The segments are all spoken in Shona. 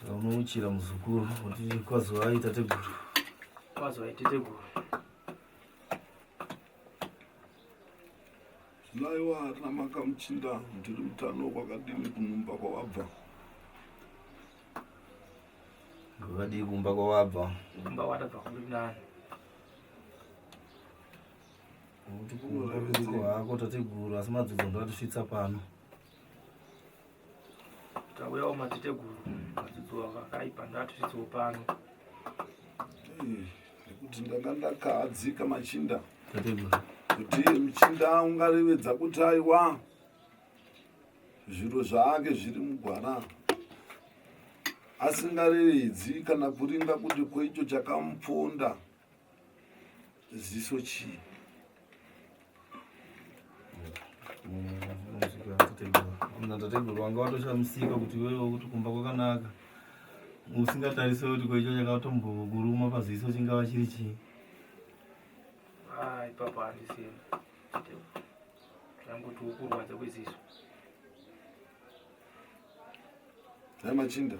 Saka unouchira muzukuru kuti kwazovai tateguru. Kwazovai tateguru. Naiwa hatina makamuchinda ndiri mutano kwakadini kunumba kwawabva. Kwakadii kumba kwawabva? Kumba watabva kuri nani? Kuti kumba kuri hako tateguru asi madzodzo ndakatosvitsa pano. Tauyawo mateteguru madzidziwa vakaipa ndatisisiwo pano. Hmm, nekuti ndanga ndakahadzika machinda. Tateguru. Kuti muchinda ungarevedza kuti aiwa zviro zvaake zviri mugwara asingarevedzi kana kuringa kuti kwecho chakamuponda. ziso chii natateguru wanga watoshamusika kuti iwewe kuti kumba kwakanaka usingatarise kuti koicho chakatombokuruma paziso chingava chiri chii ah, ipapo handisina tangotiwo kurwadza kweziso Dai machinda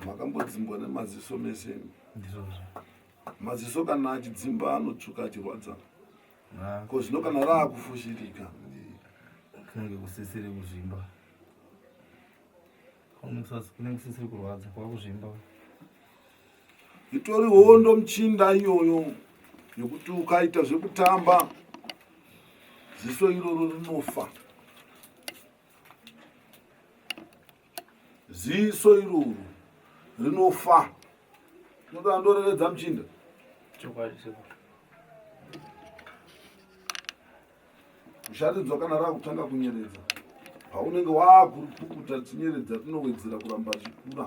makambodzimbwa nemaziso mese maziso kana achidzimba anotsvuka achirwadza ko zvino kana raakufushirika kunenge kusisiri kuzvimba kunenge kusisiri kurwadza kwakuzvimba itori hondo muchinda iyoyo yokuti ukaita zvekutamba ziso iroro rinofa ziso iroro rinofa noda ndorevedza muchinda musharidzwa kana raakutanga kunyeredza paunenge waakurupukuta tinyeredza tinowedzera kuramba zvikura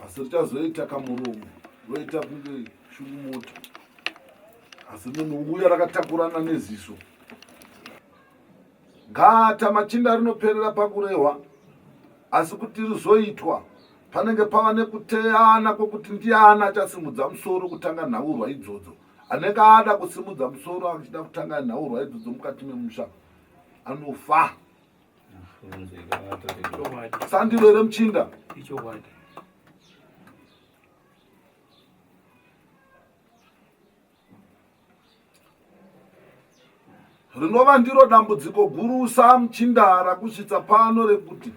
asi richazoita kamuromo roita kunge shungumota asi munhu uya rakatakurana neziso gata machinda rinoperera pakurehwa asi kuti rizoitwa panenge pava nekuteyana kwokuti ndiani achasimudza musoro kutanga nhaurwa idzodzo anenge ada kusimudza musoro achida kutanga nhaurwa idzodzo mukati memusha anofa sandiro here muchinda rinova ndiro dambudziko gurusa muchinda rakusvitsa pano rekuti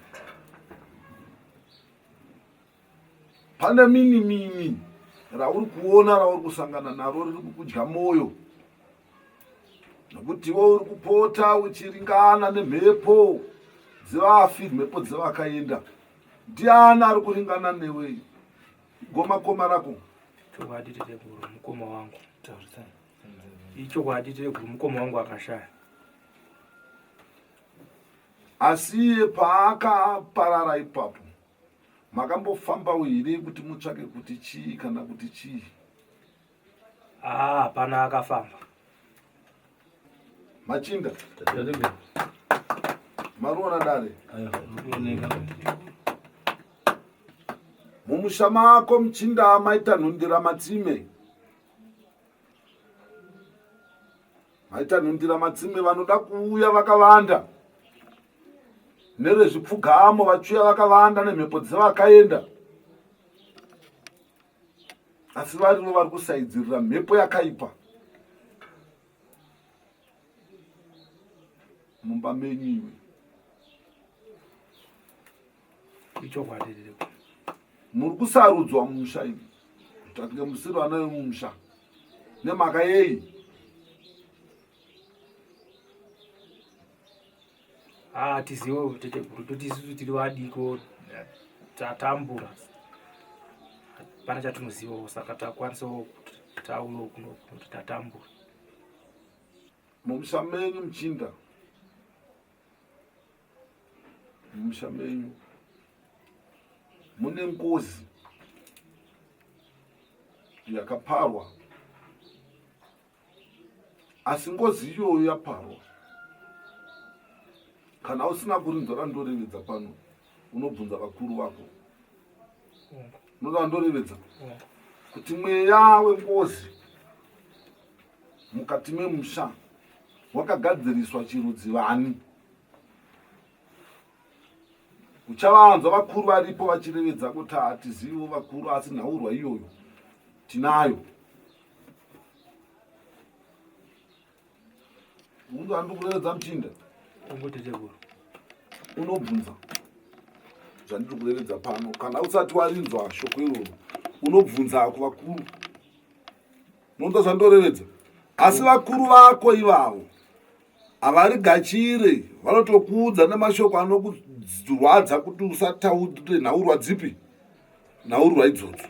pane mini mini rauri kuona rauri kusangana naro riri kukudya mwoyo nokuti iwe uri kupota uchiringana nemhepo dzevafi mhepo dzevakaenda ndiani ari kuringana newe gomakoma rako chokwadi tireguru mukoma wangu ichokwadi tireguru mukoma wangu akashaya asi iye paakaparara ipapo makambofambawo here kuti mutsvake kuti chii kana kuti chii ah, hapana ah, akafamba machinda mariona dare mumusha mako muchinda maita nhundira matsime VaItanhundira Madzimwe vanoda kuuya vakavanda nevezvipfugamo vachiuya vakavanda nemhepo dzevakaenda asi varivo vari kusaidzirira mhepo yakaipa mumba menyu iwe ichokwadi ririko muri kusarudzwa mumusha imi tatinge musiri vana vemumusha nemhaka yei hatiziwo ah, tete guru toti isusu tiri vadiko tatambura hapana chatinozivawo saka takwanisawo tauro kunokuti tatambura mumusha menyu muchinda mumusha menyu mune ngozi yakaparwa asi ngozi iyoyo yaparwa kana usina kurinzwa randorevedza pano unobvunza vakuru vako unoda vandorevedza kuti mweya wengozi mukati memusha wakagadziriswa chirudzi vani uchavanzwa vakuru varipo vachirevedza kuti hatizivo vakuru asi nhaurwa iyoyo tinayo unge andi kurevedza muchinda unobvunza zvandiri kurevedza pano kana usati warinzwa shoko iroro unobvunza ako vakuru unonzwa zvandorevedza asi vakuru vako ivavo havarigachire vanotokuudza nemashoko anokurwadza kuti usataure nhaurwa dzipi nhaurwa idzodzo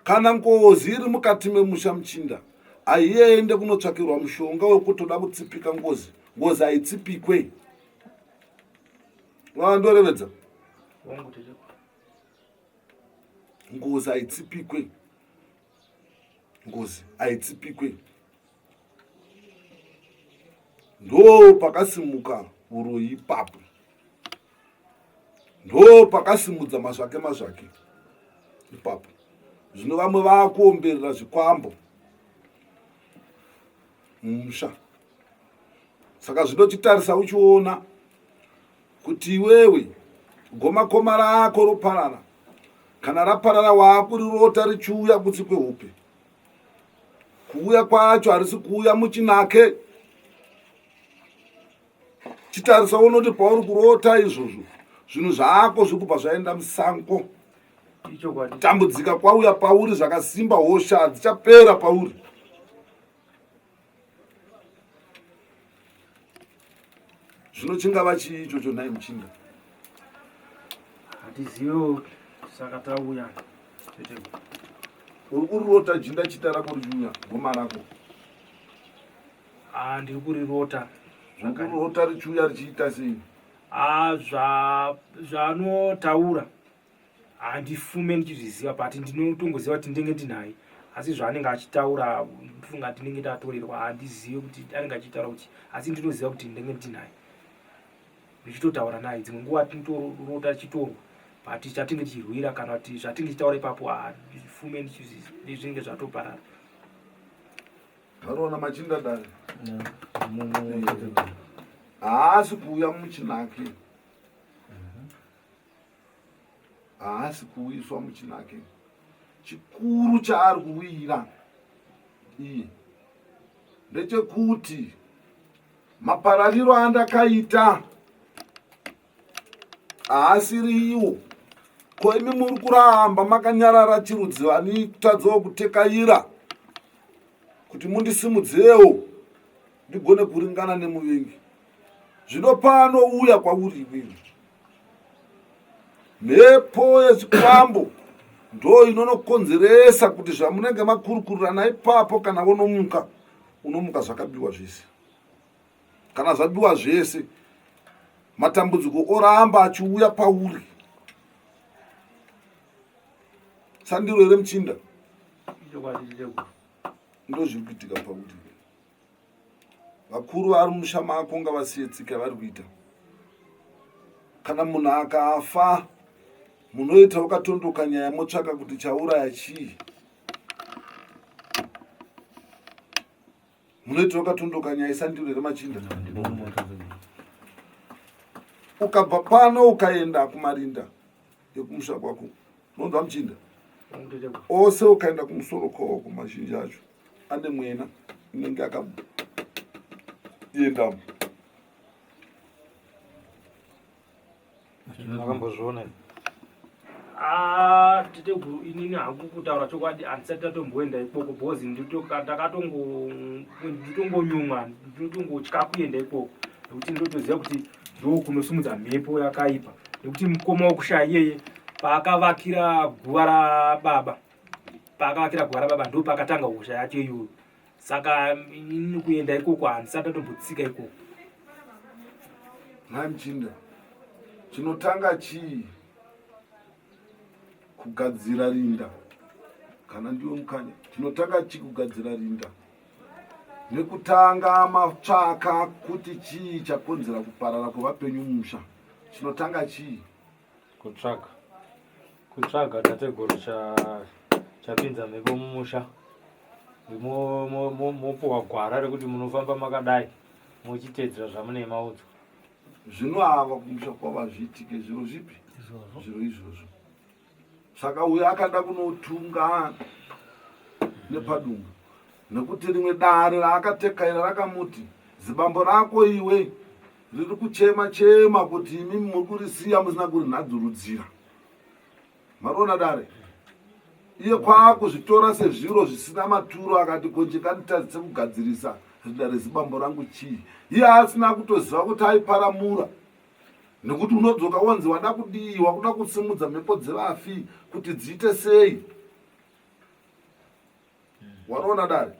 kana ngozi iri mukati memusha muchinda haiende kunotsvakirwa mushonga wekutoda kutsipika ngozi ngozi haitsipikwe vandorevedza ngozi haitsipikwe ngozi haitsipikwe ndo pakasimuka uroyi ipapo ndo pakasimudza mazvake mazvake ipapo zvino vamwe vakuomberera zvikwambo mumusha saka zvinotitarisa uchiona kuti iwewe gomakoma rako roparara kana raparara waakurirota richiuya kutsi kwehupe kuuya kwacho harisi kuuya muchinake chitarisa unoti pauri kurota izvozvo zvinhu zvako zviri kubva zvaenda musango tambudzika kwauya pauri zvakasimba hosha hadzichapera pauri zvino chingava chii ichocho nhai muchinda hatizivewo saka tauya teteko uri kurirota jinda chita rako richiuya goma rako ah, ndiri kurirota zvokurirota richiuya richiita sei ah, zvanotaura handifume ndichizviziva but ndinotongoziva kuti ndenge ndinaye asi zvaanenge achitaura funga tinenge tatorerwa handizive kuti anenge achitaura kuti asi ndinoziva kuti ndenge ndinaye ndichitotaura naye dzimwe nguva tinotorota tichitorwa but chatinge tichirwira kana kuti zvatinge tichitaura ipapo handifume ndizvinenge zvatoparara taroona machinda dare haasi kuuya muchinake haasi kuwiswa muchinake chikuru chaari kuwira iyi ndechekuti maparariro andakaita haasiri iwo ko imi muri kuramba makanyarara chirudzi vani kutadzawo kutekaira kuti mundisimudzirewo ndigone kuringana nemuvengi zvino pano uya kwauri inini mhepo yechikwambo ndo inonokonzeresa kuti zvamunenge makurukurirana ipapo kana vonomuka unomuka zvakabiwa zvese kana zvabiwa zvese matambudziko oramba achiuya pauri sandiro here muchinda ndozviri kuitika pauri vakuru vari musha mako ngavasiye tsika yavari kuita kana munhu akafa munoita wakatondoka nyaya motsvaka kuti chauraya chii munoita wakatondoka nyaya isandiro here machinda ukabva pano ukaenda kumarinda yekumusha kwako unonzwa muchinda ose ukaenda kumusoro kwaoko mazhinji acho ane mwena inenge akaendamo akambozviona ah, teteguru inini hangu kutaura chokwadi handisati tatomboenda ikoko bhozi ndakatongonyumwa ndinotongotya kuenda ikoko nekuti ndotoziva kuti ndokunosimudza mhepo yakaipa nekuti mukoma wokushaya iyeye paakavakira guva rababa paakavakira guva rababa ndo paakatanga hosha yacho iyoyo saka ini kuenda ikoko handisati atombotsika ikoko nhai muchinda chinotanga chii kugadzira rinda kana ndiwe mukanya chinotanga chii kugadzira rinda nekutanga matsvaka kuti chii chakonzera kuparara kwevapenyu musha chinotanga chii kutsvaga kutsvaga tateguru chapinza mhepo mumusha mopuwa gwara rekuti munofamba makadai muchiteedzera zvamune maudzo zvino ava kumusha kwavo hazviitike zviro zvipi zviro izvozvo saka uyo akada kunotunga nepadunga nekuti rimwe dare raakatekaira rakamuti zibambo rako iwe riri kuchema chema kuti imi muri kurisiya musina kurinhadzurudzira mariona dare iye kwaakuzvitora sezviro zvisina maturo akati konje kanditadzise kugadzirisa rinda rezibambo rangu chii iye asina kutoziva kuti aiparamura nekuti unodzoka wonzi wada kudii wakuda kusimudza mhepo dzevafi kuti dziite sei wanoona dare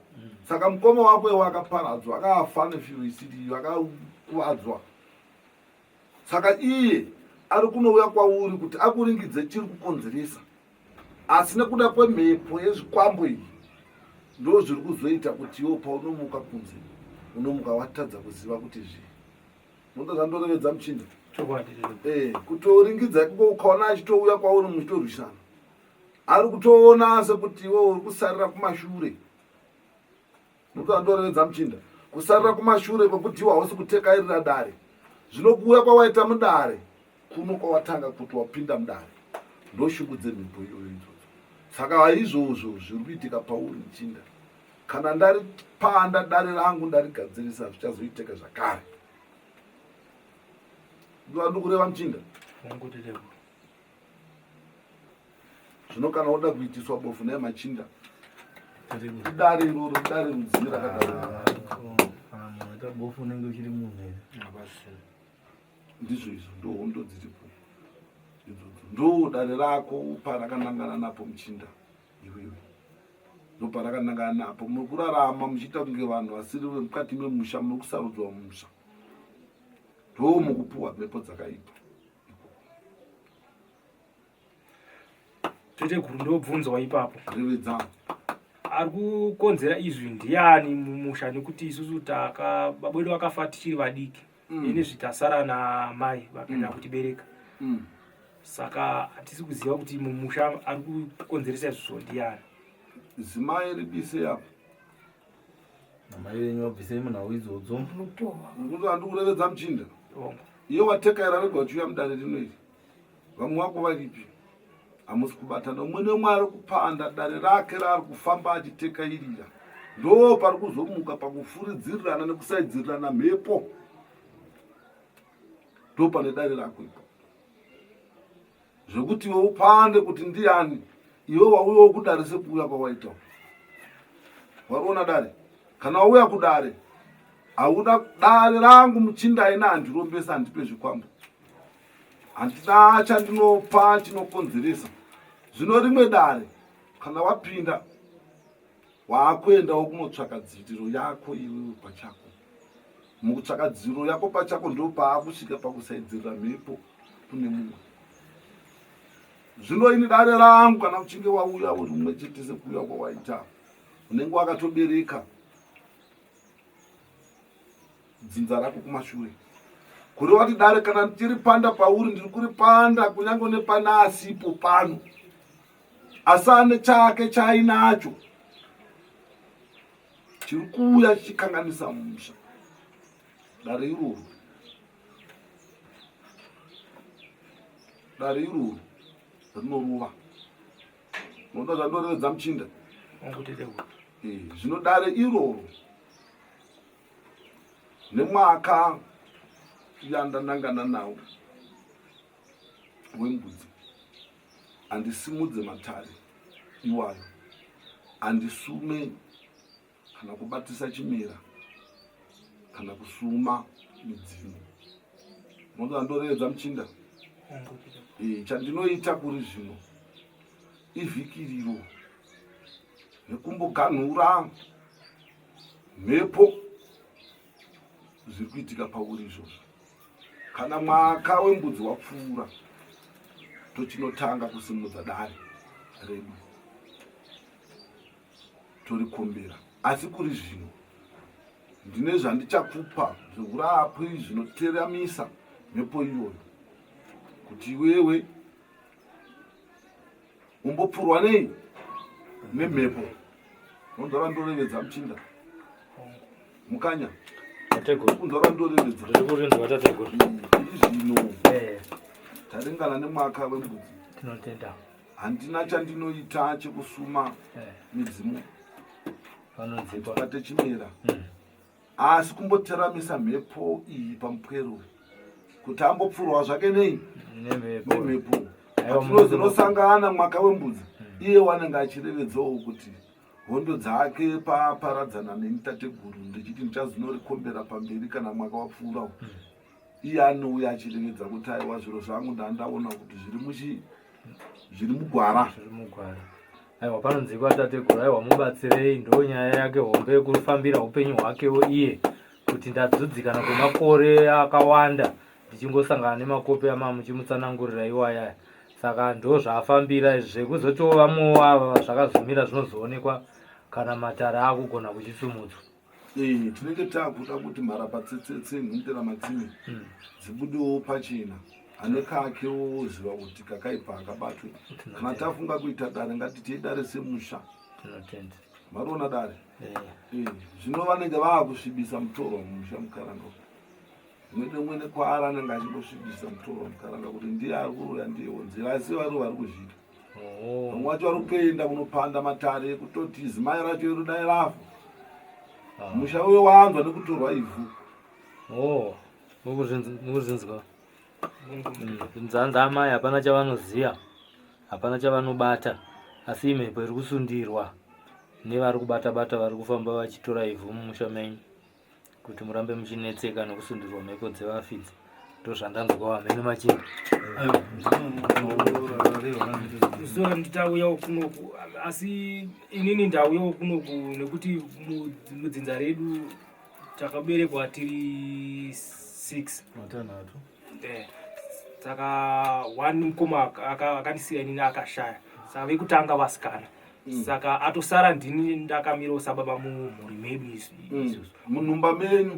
saka mukoma wako iwe akaparadzwa akafa nefiuisitiyo akakuvadzwa saka iye ari kunouya kwauri kuti akuringidze chiri kukonzeresa asi nekuda kwemhepo yezvikwambo iyi ndo zviri kuzoita kuti iwo paunomuka kunze unomuka watadza kuziva kuti zvii Moto zandorovedza muchinda. Chokwadi. Eh, kutoringidza kuko ukaona achitouya kwauri muchitorwisana. Ari kutoona sekuti iwe uri kusarira kumashure. Moto zandorovedza muchinda. Kusarira kumashure kwekuti iwe hausi kutekairira dare. Zvinokuuya kwawaita mudare. kuno kwawatanga kuti wapinda mudare ndoshungu dzemhepo iyoyo idzodzo saka haizvozvo zviri kuitika pauri muchinda kana ndari panda dare rangu ndarigadzirisa zvichazoiteka zvakare ndivandikureva muchinda zvino kana woda kuitiswa bofu naye machinda idare iroro idare rudzii rakadaro ah, ah, ah, bofu unenge uchiri munhu here ndizvo izvo ndo hondo dziripo idzodzo ndo dare rako parakanangana napo muchinda iwewe ndo parakanangana napo muri kurarama muchiita kunge vanhu vasiri vemukati memusha muri kusarudzwa mumusha ndo mukupuwa mhepo dzakaipa tete guru ndobvunzwa ipapo revedza ari kukonzera izwi ndiani mumusha nekuti isusu taka babwedu vakafa tichiri vadiki mm. ini zvitasara namai vakaenda mm. kutibereka mm. saka hatisi kuziva kuti mumusha ari kukonzeresa izvozvo ndiyani zimai ribise apo namai venyu vabvisei munhau idzodzo handikurevedza muchinda iye watekaira rega uchiuya mudare rinoiri vamwe vako varipi hamusi kubatana umwe neumwe ari kupanda dare rake raari kufamba achitekairira ndo pari kuzomuka pakufuridzirirana nekusaidzirirana mhepo ndo pane dare rako ipo zvekuti iwe upande kuti ndiani iwe wauya wokudare sekuuya kwawaita wariona dare kana wauya kudare hauda dare rangu muchinda aina handirombesa handipe zvikwambo handina chandinopa chinokonzeresa zvino rimwe dare kana wapinda waakuendawo kunotsvaka dziitiro yako iwewe pachako mukutsvaka dziro yako pachako ndo paakusvika pakusaidzirira mhepo kune mumwe zvino ini dare rangu kana uchinge wauya uri mumwe chete sekuuya kwawaita unenge wakatobereka dzinza rako kumashure kureva kuti dare kana tiri panda pauri ndiri kuri panda kunyange nepana asipo pano asi ane chake chaainacho chiri kuuya chichikanganisa musha dare iroro dare iroro rinorova Unoda zvandorevedza muchinda. Ngotete kuti. Eh, zvino dare iroro nemwaka yandanangana nawo wembudzi handisimudze matare iwayo handisume kana kubatisa chimera kana kusuma midzimu moda ndoreedza muchinda eh, chandinoita kuri zvino ivhikiriro nekumboganhura mhepo zviri kuitika pauri izvozvo kana mwaka wembudzi wapfuura tochinotanga kusimudza dare redu torikumbira asi kuri zvino ndine zvandichakupa zveurapi zvinoteramisa mhepo iyoyo kuti iwewe umbopfurwa nei nemhepo nondora ndorevedza muchinda mukanya kundora ndorevedza izvino taringana nemwaka wembudzi tinotenda handina chandinoita chekusuma eh. midzimu patechimera hmm. asi kumboteramisa mhepo iyi pamupwero kuti ambopfurwa zvake nei nemhepo atinozinosangana mwaka wembudzi hmm. iye wanenge achirevedzawo kuti hondo dzake paaparadzana nemitateguru ndichiti ndichazinorikombera pamberi kana mwaka wapfuurawo hmm. iye anouya achirevedza kuti aiwa zviro zvangu ndandaona kuti zviri muchi zviri mugwara zviri mugwara aiwa panonzi kwatateguru aiwa mubatsirei ndo nyaya yake hombe kufambira upenyu hwakewo iye kuti ndadzudzikana kwemakore akawanda ndichingosangana nemakopi amamuchimutsanangurira iwayaya saka ndo zvaafambira izvi zvekuzotiwo vamwewo ava zvakazomira zvinozoonekwa kana matare akugona kuchisumudzwa Eh, tinenge takuda kuti mharapatsetsetse nhundira matsime hmm. dzibudewo pachena ane kake woziva kuti kakaipa akabatwe kana tafunga kuita dare ngatitei dare semusha mariona dare eh. Eh, zvino vanenge vava kusvibisa mutoro mumusha mukaranga mwene mwene kwaari anenge achingosvibisa mutoro mukaranga kuti ndiye ari kuroya ndiye wonzira asi vari vari kuzviita Oh. Vamwe wacho vari kutoenda kunopanda matare kutoti zimai racho iro dai rafa. Ah. Musha uyo wanzwa nekutorwa ivhu. Oh. Mukuzvinzwa. Mm. Nzanza amai hapana chavanoziva. Hapana chavanobata. Asi imhepo iri kusundirwa nevari kubata bata vari kufamba vachitora ivhu mumusha menyu. kuti murambe muchinetseka nokusundirwa mhepo dzevafidzi ndozvandanzwa hameno machinda zora nditauyawo kunoku asi inini ndauyawo kunoku nekuti mudzinza redu takaberekwa tiri six matanhatu eh, saka one mukoma akandisiya inini akashaya saka vekutanga vasikana Mm. saka atosara ndini ndakamirewo sababa mumhuri medu izvi mm. izvozvo munhumba menyu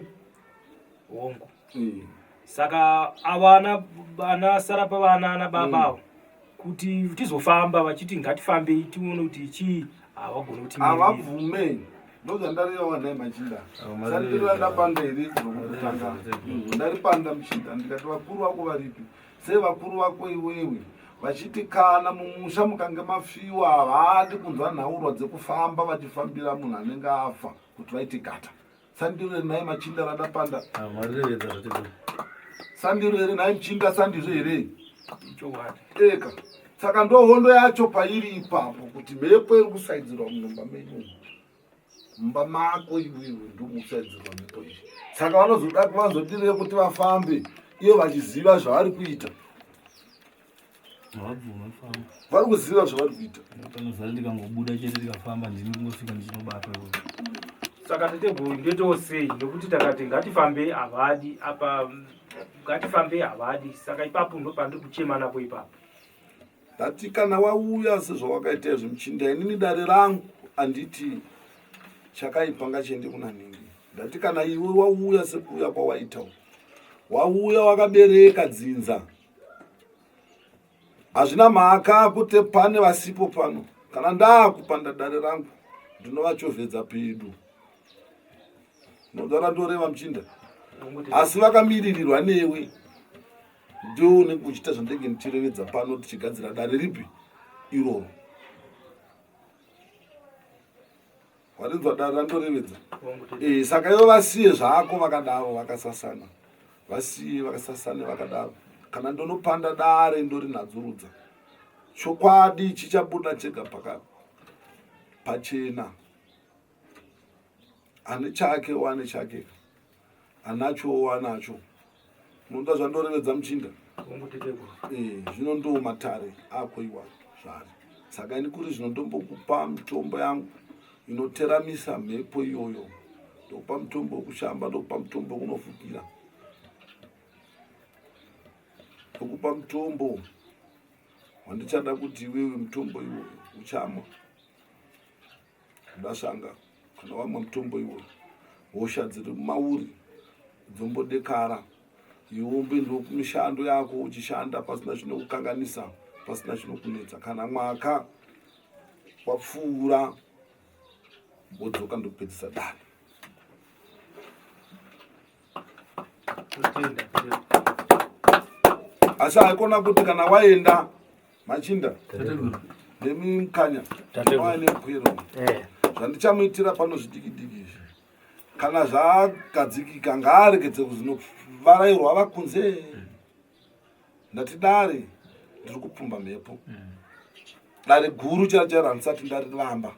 hongu mm. saka avana vana sara pavana ana baba mm. avo kuti tizofamba vachiti ngatifambei tione kuti chii havagone kuti havabvume ndozvandareawanai machinda sandirandapanda here zvinokutanga ndaripanda muchinda ndikati vakuru vako varipi sei vakuru vako iwewe vachiti kana mumusha mukange mafiwa havadi kunzwa nhaurwa dzekufamba vachifambira munhu anenge afa kuti vaite gata sandiro iri naye machinda rada panda ah, sandiro iri naye mchinda sandizvo here eka saka ndohondo yacho pairi ipapo kuti mhepo iri kusaidzirwa munomba medu mumba mako iwe ndomusaidzirwa mhepo izvi saka vanozoda kuvanzodirei kuti vafambe iyo vachiziva zvavari kuita vari kuziva zvavari kuita panozara ndikangobuda chete ndikafamba ndini kungosvika ndichinobata saka tateguru ndoitawo sei nekuti takati ngatifambei havadi apa ngatifambei havadi saka ipapo ndopandiri kuchema napo ipapo ndati kana wauya sezvawakaita izvi muchinda inini dare rangu anditi chakaipa ngachiende kuna nhingi ndati kana iwe wauya sekuuya kwawaita wauya wakabereka dzinza hazvina mhaka kuti pane vasipo pano kana ndaakupanda dare rangu ndinovachovhedza pedu nodara ndoreva muchinda asi vakamiririrwa newe ndiwo unenge uchiita zvandenge ndichirevedza pano tichigadzira dare ripi iroro warinzwa dare randorevedza eh, saka ivo vasiye zvako vakadaro vakasasana vasiye vakasasane vakadaro kana ndonopanda dare ndorinadzurudza chokwadi chichabuda chega paka pachena ane chake wane chake anachowo anacho unoda zvandorevedza muchinda eh, zvino ndo matare ako iwa zvari saka ini kuri zvino ndombokupa mitombo yangu inoteramisa mhepo iyoyo ndokupa mitombo wekushamba ndokupa mitombo wekunofukira ndokupa mitombo wandichada kuti iwewe mitombo iwoyo uchamwa Ndashanga kana wamwa mutombo iwo hosha dziri mumauri dzombodekara iwombe ndokumishando yako uchishanda pasina chinokukanganisa pasina chinokunetsa kana mwaka wapfuura wodzoka ndokupedzisa dani asi haikona kuti kana waenda machinda nemi mukanya waya nepwiro eh. zvandichamuitira pano zvidikidiki izvi kana zvagadzikika ngaaregedze kuzino varairwa vakunze ndati dare ndiri kupfumba mhepo mm. dare guru chara chara handisati ndariramba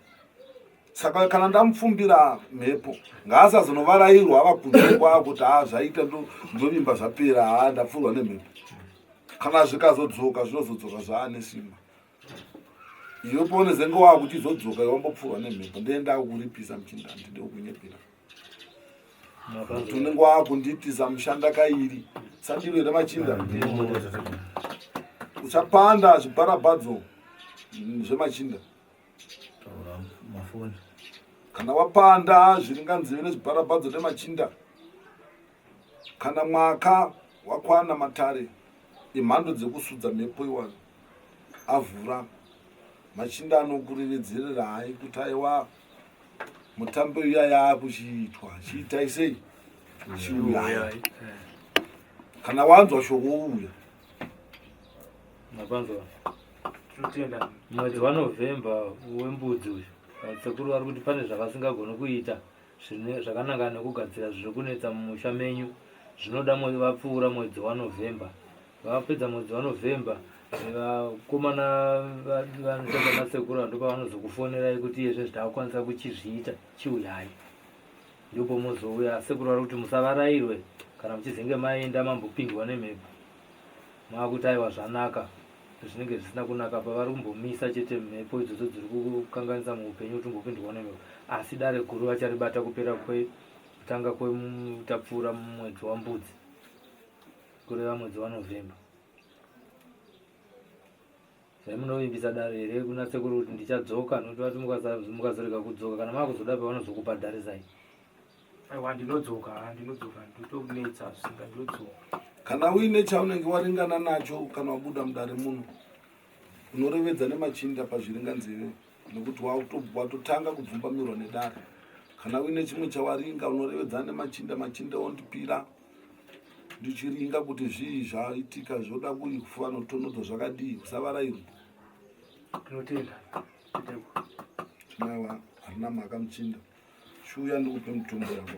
saka kana ndamupfumbira mhepo ngaasazonovarairwa ava kunze kwaa kuti haa ah, zvaita ndovimba zvapera haa ah, ndapfurwa nemhepo kana zvikazodzoka zvinozodzoka zvaane simba iwe paunezenge waakuchizodzoka iwe wambopfurwa nemhepo ndee ndakukuripisa muchinda handide kunyepera kuti unenge waakunditiza mushanda kairi sandiro here machinda uchapanda zvibharabadzo zvemachinda kana wapanda zviringanzive nezvibharabadzo nemachinda kana mwaka wakwana matare imhando dzekusudza mhepo iwano avhura machinda anokurevedzerera hai kuti aiwaa mutambo uya yaakuchiitwa chiitai sei chiuyaya eh. kana wanzwa shoko uya mapanzwa tinotenda mwedzi wanovhemba wembudzi uyu sekuru vari kuti pane zvavasingagoni kuita zvakananga nekugadzira zviri kunetsa mumusha menyu zvinoda vapfuura mwedzi wanovhemba vapedza mwedzi wanovhemba vakomana vanotaura nasekuru vanhu ndopavanozokufonerai kuti iye zvinhu zvitaakukwanisa kuchizviita chiuyai ndipo muzouya sekuru vari kuti musavarairwe kana muchizenge maenda mambopindwa nemhepo maakuti aiwa zvanaka zvinenge zvisina kunaka pa vari kumbomisa chete mhepo idzodzo dziri kukanganisa muupenyu kuti umbopindwa nemhepo asi dare guru vacharibata kupera kwekutanga kwetapfuura mumwedzi wambudzi kureva mwedzi wanovhemba zvaimunovimbisa dare here kuna sekuru kuti ndichadzoka nokuti vati mukazorega kudzoka kana maakuzoda pavanozokupa dare zai aiwa ndinodzoka ndinodzoka nditokunetsa zvisinga ndinodzoka kana uine chaunenge waringana nacho kana wabuda mudare muno unorevedza nemachinda pazviringanzeve nokuti watotanga kubvumbamirwa nedare kana uine chimwe chawaringa unorevedza nemachinda machinda ondipira ndichiringa kuti zvii zvaitika zvoda kuyi kufuva notonodza zvakadii kusavarairwa tinotenda tinaiwa harina mhaka muchinda chiuya ndikupe mutombo yako